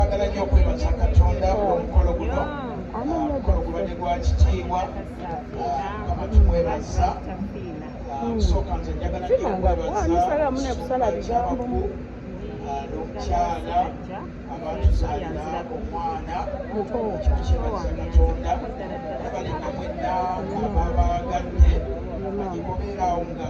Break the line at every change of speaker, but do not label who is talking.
Twagala nnyo okwebaza Katonda olw'omukolo guno omukolo gubadde gwa kitiibwa kama tumwebaza okusooka nze njagala nnyo okwebaza abakulu n'omukyala abatuzaalira omwana ekyo kyebaza katonda abalinga mwenna ababaagadde agimubeeraawo nga